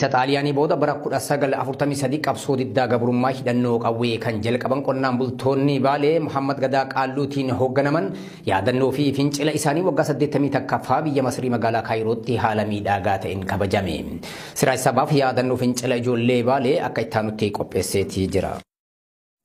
Isa Xaaliyaanii booda bara 1943 qabsoo diddaa gabrummaa hidhannoo qawwee kan jalqaban qonnaan bultoonni Baalee Muhammad Gadaa Qaalluutiin hoogganaman yaadannoo fi fincila isaanii waggaa 81ffaa biyya Masrii magaalaa Kaayirootti haala miidhaagaa ta'een kabajame. Siraaj Sabaaf yaadannoo fincila ijoollee Baalee akka ittaanutti qopheesseetii jira.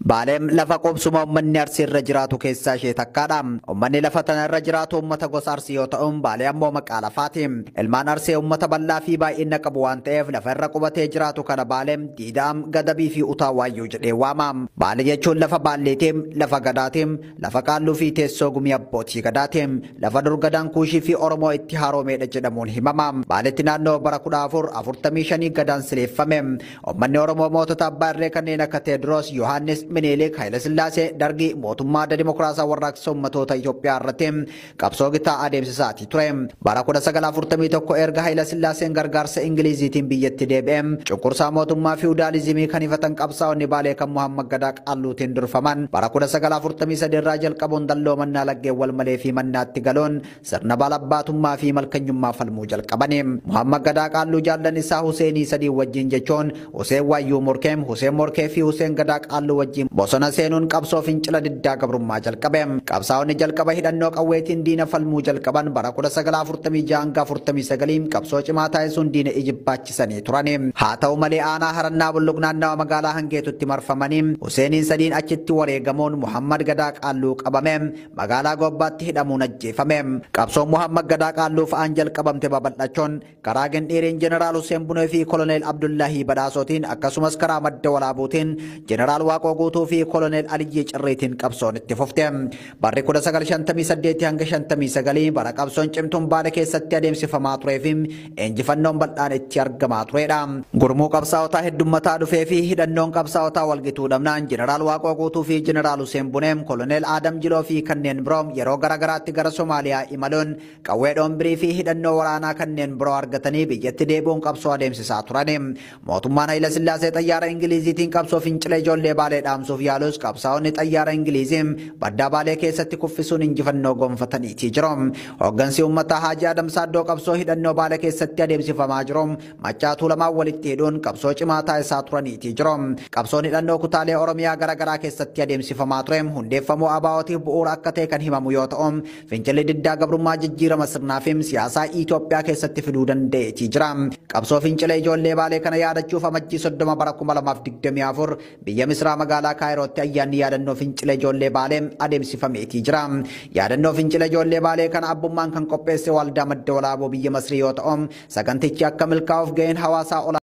Baaleen lafa qubsuma ummanni Arsii irra jiraatu keessaa ishee takkaadha. Ummanni lafa tana irra jiraatu ummata gosa Arsii yoo ta'u, Baalee ammoo maqaa lafaati. Ilmaan Arsii ummata bal'aa fi baay'ina qabu waan ta'eef lafa irra qubatee jiraatu kana Baale, Diidaam, Gadabii fi Utaa Waayyuu jedhee waama. Baale jechuun lafa Baalleeti, lafa Gadaati, lafa Qaalluu fi teessoo gumii abbootii Gadaati. Lafa dur Gadaan Kuushii fi Oromoo itti haaroomeedha jedhamuun himama. Baaletti naannoo bara 1445 Gadaan sileeffame. Ummanni Oromoo mootota abbaa irree kanneen akka Teediroos, Yohaannis, Miniiliik, Hayilasillaasee, Dargii, mootummaa adda dimokiraasaa warraaqsa ummatoota Itoophiyaa irratti qabsoo gitaa adeemsisaatii ture. Bara 1941 erga Hayilasillaaseen gargaarsa Ingiliiziitiin biyyatti deebi'e cunqursaa mootummaa fiwudaalizimii kan hifatan qabsaa'onni Baalee kan Muhammad Gadaa Qaalluutiin durfaman bara 1943 irraa jalqabuun dalloo mannaa laggeen wal malee fi mannaatti galuun sirna baalabbaatummaa fi malkanyummaa falmuu jalqabani. Muhammad Gadaa Qaalluu jaallan isaa Huseenii sadii wajjiin jechuun Huseen Waayyuu Morkee, Huseen Morkee fi Huseen Gadaa Qaalluu wajjiin bosona seenuun qabsoo fincila diddaa gabrummaa jalqabe. Qabsaa'onni jalqaba hidhannoo qawweetiin diina falmuu jalqaban bara 1946-49 qabsoo cimaa taasisuun diina ijibbaachisanii turani. Haa ta'u malee aanaa Harannaa Bulluq naannawa magaalaa Hangeetutti marfamanii Huseeniin sadiin achitti wareegamuun Muhammad Gadaa Qaalluu qabame. Magaalaa Gobbaatti hidhamuun ajjeefame. Qabsoon Muhammad Gadaa Qaalluu fa'aan jalqabamte babal'achuun karaa Gindhiiriin Jeneraal Husseen Bunee fi Koloneel Abdullaahii Badhaasootiin akkasumas karaa Madda Walaabuutiin Jeneraal Waaqoo Guutuu fi Koloneel Aliyyii Cirriitiin qabsoon itti fufte. Barri 1958 hanga 59 bara qabsoon cimtuun Baale keessatti adeemsifamaa turee fi injifannoon bal'aan itti argamaa tureedha. Gurmuu qabsaa'otaa heddummataa dhufee fi hidhannoon qabsaa'otaa walgituu dhabnaan Jeneraal Waaqoo Guutuu fi Jeneraal Huseen Buneem, Koloneel Aadam Jiloo fi kanneen biroo yeroo gara garaatti gara Somaaliyaa imaluun qawwee dhoombirii fi hidhannoo waraanaa kanneen biroo argatanii biyyatti deebi'uun qabsoo adeemsisaa turani. Mootummaan Hayilasillaasee xayyaara Ingiliiziitiin qabsoo fincila ijoollee Baalee dhaamsuuf yaalus qabsaa'onni xayyaara Ingiliizii baddaa Baalee keessatti kuffisuun injifannoo gonfataniitii jiru. Hooggansi uummataa Haajii Adam Saaddoo qabsoo hidhannoo Baale keessatti adeemsifamaa jiru Maccaa Tuulamaan walitti hidhuun qabsoo cimaa taasisaa turaniitii jiru. Qabsoon hidhannoo kutaalee Oromiyaa gara garaa keessatti adeemsifamaa ture hundeeffamuu ABOtiif bu'uura akka ta'e kan himamu yoo ta'u, Fincilli diddaa gabrummaa jijjiirama sirnaa fi siyaasaa Itoophiyaa keessatti fiduu danda'eetii jira. Qabsoo fincila ijoollee Baalee kana yaadachuuf Amajjii 30 bara 2024 biyya Misraa magaalaa Kaayirootti ayyaanni yaadannoo fincila ijoollee Baalee adeemsifameetii jira. Yaadannoo fincila ijoollee Baalee kana abbummaan kan qopheesse Waaldaa Madda Walaaboo biyya Masrii yoo ta'u, sagantichi akka milkaa'uuf ga'een hawaasaa olaanaa